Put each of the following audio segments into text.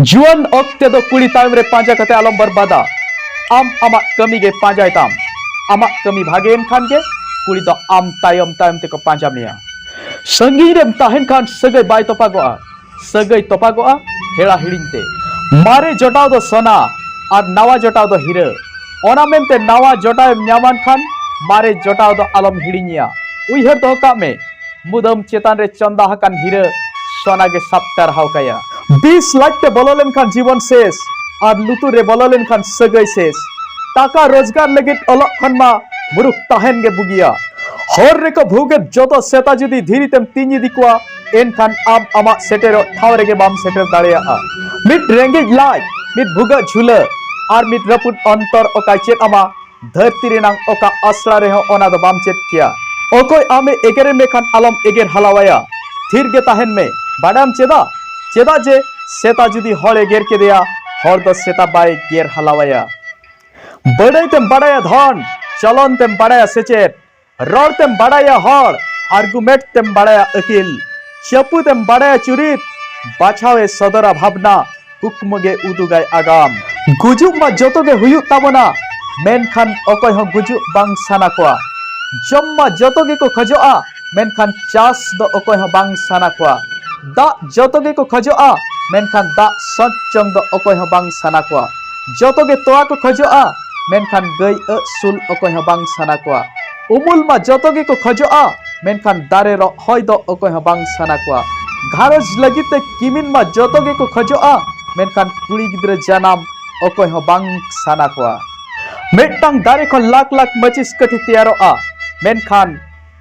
ᱡᱩᱣᱟᱹᱱ ᱚᱠᱛᱮ ᱫᱚ ᱠᱩᱲᱤ ᱛᱟᱭᱚᱢ ᱨᱮ ᱯᱟᱸᱡᱟ ᱠᱟᱛᱮ ᱟᱞᱚᱢ ᱵᱚᱨᱵᱟᱫᱟ ᱟᱢ ᱟᱢᱟᱜ ᱠᱟᱹᱢᱤ ᱜᱮ ᱯᱟᱸᱡᱟᱭ ᱛᱟᱢ ᱟᱢᱟᱜ ᱠᱟᱹᱢᱤ ᱵᱷᱟᱜᱮᱭᱮᱱ ᱠᱷᱟᱱ ᱜᱮ ᱠᱩᱲᱤ ᱫᱚ ᱟᱢ ᱛᱟᱭᱚᱢ ᱛᱟᱭᱚᱢ ᱛᱮᱠᱚ ᱯᱟᱸᱡᱟ ᱢᱮᱭᱟ ᱥᱟᱺᱜᱤᱧ ᱨᱮᱢ ᱛᱟᱦᱮᱱ ᱠᱷᱟᱱ ᱥᱟᱹᱜᱟᱹᱭ ᱵᱟᱭ ᱛᱚᱯᱟᱜᱚᱜᱼᱟ ᱥᱟᱹᱜᱟᱹᱭ ᱛᱚᱯᱟᱜᱚᱜᱼᱟ ᱦᱮᱲᱟ ᱦᱤᱲᱤᱧ ᱛᱮ ᱢᱟᱨᱮ ᱡᱚᱴᱟᱣ ᱫᱚ ᱥᱚᱱᱟ ᱟᱨ ᱱᱟᱣᱟ ᱡᱚᱴᱟᱣ ᱫᱚ ᱦᱤᱨᱟᱹ ᱚᱱᱟ ᱢᱮᱱᱛᱮ ᱱᱟᱣᱟ ᱡᱚᱴᱟᱣ ᱮᱢ ᱧᱟᱢᱟᱱ ᱠᱷᱟᱱ ᱢᱟᱨᱮ ᱡᱚᱴᱟᱣ ᱫᱚ ᱟᱞᱚᱢ ᱦᱤᱲᱤᱧᱮᱭᱟ ᱩᱭᱦᱟᱹᱨ ᱫᱚᱦᱚ ᱠᱟᱜ ᱢᱮ ᱢᱩᱫᱟᱹᱢ ᱪᱮᱛᱟᱱ ᱨᱮ ᱪᱚᱸᱫᱟ ᱟᱠᱟᱱ ᱦᱤᱨᱟᱹ ᱥᱚᱱᱟ ᱜᱮ ᱥᱟᱵ ᱴᱟᱨᱦᱟᱣ ᱠᱟᱭᱟ ᱵᱤᱥ ᱞᱟᱡ ᱛᱮ ᱵᱚᱞᱚ ᱞᱮᱱᱠᱷᱟᱱ ᱡᱤᱵᱚᱱ ᱥᱮᱥ ᱟᱨ ᱞᱩᱛᱩᱨ ᱨᱮ ᱵᱚᱞᱚ ᱞᱮᱱᱠᱷᱟᱱ ᱥᱟᱹᱜᱟᱹᱭ ᱥᱮᱥ ᱴᱟᱠᱟ ᱨᱳᱡᱽᱜᱟᱨ ᱞᱟᱹᱜᱤᱫ ᱚᱞᱚᱜ ᱠᱷᱚᱱ ᱢᱟ ᱢᱩᱨᱩᱠ ᱛᱟᱦᱮᱱ ᱜᱮ ᱵᱩᱜᱤᱭᱟ ᱦᱚᱨ ᱨᱮᱠᱚ ᱵᱷᱩᱜᱮᱫ ᱡᱚᱛᱚ ᱥᱮᱛᱟ ᱡᱩᱫᱤ ᱫᱷᱤᱨᱤ ᱛᱮᱢ ᱛᱤᱧ ᱤᱫᱤ ᱠᱚᱣᱟ ᱮᱱᱠᱷᱟᱱ ᱟᱢ ᱟᱢᱟᱜ ᱥᱮᱴᱮᱨᱚᱜ ᱴᱷᱟᱶ ᱨᱮᱜᱮ ᱵᱟᱢ ᱥᱮᱴᱮᱨ ᱫᱟᱲᱮᱭᱟᱜᱼᱟ ᱢᱤᱫ ᱨᱮᱸᱜᱮᱡ ᱞᱟᱡ ᱢᱤᱫ ᱵᱷᱩᱜᱟᱹᱜ ᱡᱷᱩᱞᱟᱹ ᱟᱨ ᱢᱤᱫ ᱨᱟᱹᱯᱩᱫ ᱚᱱᱛᱚᱨ ᱚᱠᱟᱭ ᱪᱮᱫ ᱟᱢᱟ ᱫᱷᱟᱹᱨᱛᱤ ᱨᱮᱱᱟᱜ ᱚᱠᱟ ᱟᱥᱲᱟ ᱨᱮᱦᱚᱸ ᱚᱱᱟ ᱫᱚ ᱵᱟᱢ ᱪᱮᱫ ᱠᱮᱭᱟ ᱚᱠᱚᱭ ᱟᱢᱮ ᱮᱜᱮᱨᱮ ᱢᱮᱠᱷᱟᱱ ᱟᱞᱚᱢ ᱮᱜᱮᱨ ᱦᱟᱞᱟᱣᱟᱭᱟ ᱛᱷᱤᱨ ᱜᱮ ᱛᱟᱦᱮᱱ ᱢᱮ ᱵᱟᱰᱟᱭᱟᱢ ᱪᱮᱫᱟᱜ ᱪᱮᱫᱟᱜ ᱡᱮ ᱥᱮᱛᱟ ᱡᱩᱫᱤ ᱦᱚᱲ ᱮᱜᱮᱨ ᱠᱮᱫᱮᱭᱟ ᱦᱚᱲ ᱫᱚ ᱥᱮᱛᱟ ᱵᱟᱭ ᱜᱮᱨ ᱦᱟᱞᱟᱣᱟᱭᱟ ᱵᱟᱰᱟᱭ ᱛᱮᱢ ᱵᱟᱰᱟᱭᱟ ᱫᱷᱚᱱ ᱪᱚᱞᱚᱱ ᱛᱮᱢ ᱵᱟᱰᱟᱭᱟ ᱥᱮᱪᱮᱫ ᱨᱚᱲ ᱛᱮᱢ ᱵᱟᱲᱟᱭᱟ ᱦᱚᱲ ᱟᱨᱜᱩᱢᱮᱴ ᱛᱮᱢ ᱵᱟᱲᱟᱭᱟ ᱟᱹᱠᱤᱞ ᱪᱟᱹᱯᱩ ᱛᱮᱢ ᱵᱟᱲᱟᱭᱟ ᱪᱩᱨᱤᱛ ᱵᱟᱪᱷᱟᱣ ᱮ ᱥᱚᱫᱚᱨᱟ ᱵᱷᱟᱵᱽᱱᱟ ᱠᱩᱠᱢᱩ ᱜᱮ ᱩᱫᱩᱜᱟᱭ ᱟᱜᱟᱢ ᱜᱩᱡᱩᱜ ᱢᱟ ᱡᱚᱛᱚ ᱜᱮ ᱦᱩᱭᱩᱜ ᱛᱟᱵᱚᱱᱟ ᱢᱮᱱᱠᱷᱟᱱ ᱚᱠᱚᱭ ᱦᱚᱸ ᱜᱩᱡᱩᱜ ᱵᱟᱝ ᱥᱟᱱᱟ ᱠᱚᱣᱟ ᱡᱚᱢ ᱢᱟ ᱡᱚᱛᱚ ᱜᱮᱠᱚ ᱠᱷᱚᱡᱚᱜᱼᱟ ᱢᱮᱱᱠᱷᱟᱱ ᱪᱟᱥ ᱫᱚ ᱚᱠᱚᱭ ᱦᱚᱸ ᱵᱟᱝ ᱥᱟᱱᱟ ᱠᱚᱣᱟ ᱫᱟᱜ ᱡᱚᱛᱚ ᱜᱮᱠᱚ ᱠᱷᱚᱡᱚᱜᱼᱟ ᱢᱮᱱᱠᱷᱟᱱ ᱫᱟᱜ ᱥᱚᱪ ᱡᱚᱝ ᱫᱚ ᱚᱠᱚᱭ ᱦᱚᱸ ᱵᱟᱝ ᱥᱟᱱᱟ ᱠᱚᱣᱟ ᱡᱚᱛᱚ ᱜᱮ ᱛᱚᱣᱟ ᱠᱚ ᱠᱷᱚᱡᱚᱜᱼᱟ ᱢᱮᱱᱠᱷᱟᱱ ᱜᱟᱹᱭ ᱟᱹᱜ ᱥᱩᱞ ᱚᱠᱚᱭ ᱦᱚᱸ ᱵᱟᱝ ᱥᱟᱱᱟ ᱠᱚᱣᱟ ᱩᱢᱩᱞ ᱢᱟ ᱡᱚᱛᱚ ᱜᱮᱠᱚ ᱠᱷᱚᱡᱚᱜᱼᱟ ᱢᱮᱱᱠᱷᱟᱱ ᱫᱟᱨᱮ ᱨᱚᱜ ᱦᱚᱭ ᱫᱚ ᱚᱠᱚᱭ ᱦᱚᱸ ᱵᱟᱝ ᱥᱟᱱᱟ ᱠᱚᱣᱟ ᱜᱷᱟᱨᱚᱸᱡᱽ ᱞᱟᱹᱜᱤᱫ ᱛᱮ ᱠᱤᱢᱤᱱ ᱢᱟ ᱡᱚᱛᱚ ᱜᱮᱠᱚ ᱠᱷᱚᱡᱚᱜᱼᱟ ᱢᱮᱱᱠᱷᱟᱱ ᱠᱩᱲᱤ ᱜᱤᱫᱽᱨᱟᱹ ᱡᱟᱱᱟᱢ ᱚᱠᱚᱭ ᱦᱚᱸ ᱵᱟᱝ ᱥᱟᱱᱟ ᱠᱚᱣᱟ ᱢᱤᱫᱴᱟᱝ ᱫᱟᱨᱮ ᱠᱷᱚᱱ ᱞᱟᱠᱷ ᱞᱟᱠᱷ ᱢᱟᱹᱪᱤᱥ ᱠᱟᱹᱴᱷᱤ ᱛᱮᱭᱟᱨᱚᱜᱼᱟ ᱢᱮᱱᱠᱷᱟᱱ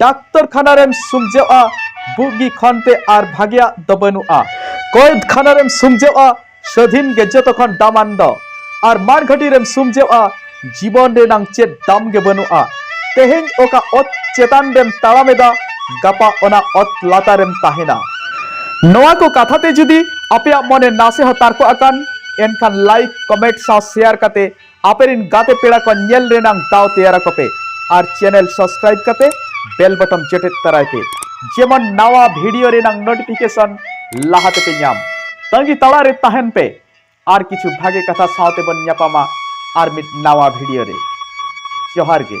ᱰᱟᱠᱛᱚᱨ ᱠᱷᱟᱱᱟ ᱨᱮᱢ ᱥᱩᱢᱡᱟᱹᱜᱼᱟ ᱵᱩᱜᱤ ᱠᱷᱚᱱ ᱛᱮ ᱟᱨ ᱵᱷᱟᱜᱮᱭᱟᱜ ᱫᱚ ᱵᱟᱹᱱᱩᱜᱼᱟ ᱠᱚᱭᱫ ᱠᱷᱟᱱᱟ ᱨᱮᱢ ᱥᱩᱢᱡᱟᱹᱜᱼᱟ ᱥᱟᱹᱫᱷᱤᱱ ᱜᱮ ᱡᱚᱛᱚ ᱠᱷᱚᱱ ᱫᱟᱢᱟᱱ ᱫᱚ ᱟᱨ ᱢᱟᱲᱜᱷᱟᱹᱴᱤ ᱨᱮᱢ ᱥᱩᱢᱡᱟᱹᱜᱼᱟ ᱡᱤᱵᱚᱱ ᱨᱮᱱᱟᱝ ᱪᱮᱫ ᱫᱟᱢ ᱜᱮ ᱵᱟᱹᱱᱩᱜᱼᱟ ᱛᱮᱦᱮᱧ ᱚᱠᱟ ᱚᱛ ᱪᱮᱛᱟᱱ ᱨᱮᱢ ᱛᱟᱲᱟᱢᱮᱫᱟ ᱜᱟᱯᱟ ᱚᱱᱟ ᱚᱛ ᱞᱟᱛᱟᱨᱮᱢ ᱛᱟᱦᱮᱱᱟ ᱱᱚᱣᱟ ᱠᱚ ᱠᱟᱛᱷᱟ ᱛᱮ ᱡᱩᱫᱤ ᱟᱯᱮᱭᱟᱜ ᱢᱚᱱᱮ ᱱᱟᱥᱮ ᱦᱚᱸ ᱛᱟᱨᱠᱚ ᱟᱠᱟᱱ ᱮᱱᱠᱷᱟᱱ ᱞᱟᱭᱤᱠ ᱠᱚᱢᱮᱱᱴ ᱥᱟᱶ ᱥᱮᱭᱟᱨ ᱠᱟᱛᱮ ᱟᱯᱮᱨᱤᱱ ᱜᱟᱛᱮ ᱯᱮᱲᱟ ᱠᱚ ᱧᱮᱞ ᱨᱮᱱᱟᱝ ᱫᱟᱣ ᱛᱮᱭᱟᱨ ᱟᱠᱚ ᱯᱮ ᱟᱨ ᱪᱮᱱᱮᱞ ᱥᱟᱵᱥᱠᱨᱟᱭᱤᱵ ᱠᱟᱛᱮ ᱵᱮᱞ ᱵᱚᱴᱚᱢ ᱪᱮᱴᱮᱫ ᱛᱟᱨᱟᱭ ᱯᱮ ᱡᱮᱢᱚᱱ ᱱᱟᱣᱟ ᱵᱷᱤᱰᱤᱭᱳ ᱨᱮᱱᱟᱝ ᱱᱳᱴᱤᱯᱷᱤᱠᱮᱥᱚᱱ ᱞᱟᱦᱟ ᱛᱮᱯᱮ ᱧᱟᱢ ᱛᱟᱺᱜᱤ ᱛᱟᱲᱟ ᱨᱮ ᱛᱟᱦᱮᱱ ᱯᱮ ᱟᱨ ᱠᱤᱪᱷᱩ ᱵᱷᱟᱜᱮ ᱠᱟᱛᱷᱟ ᱥᱟᱶᱛᱮ ᱵᱚᱱ ᱧᱟᱯᱟᱢᱟ ᱟᱨ ᱢᱤᱫ ᱱᱟᱣᱟ ᱵᱷᱤᱰᱤᱭᱳ ᱨᱮ ᱡᱚᱦᱟᱨ ᱜᱮ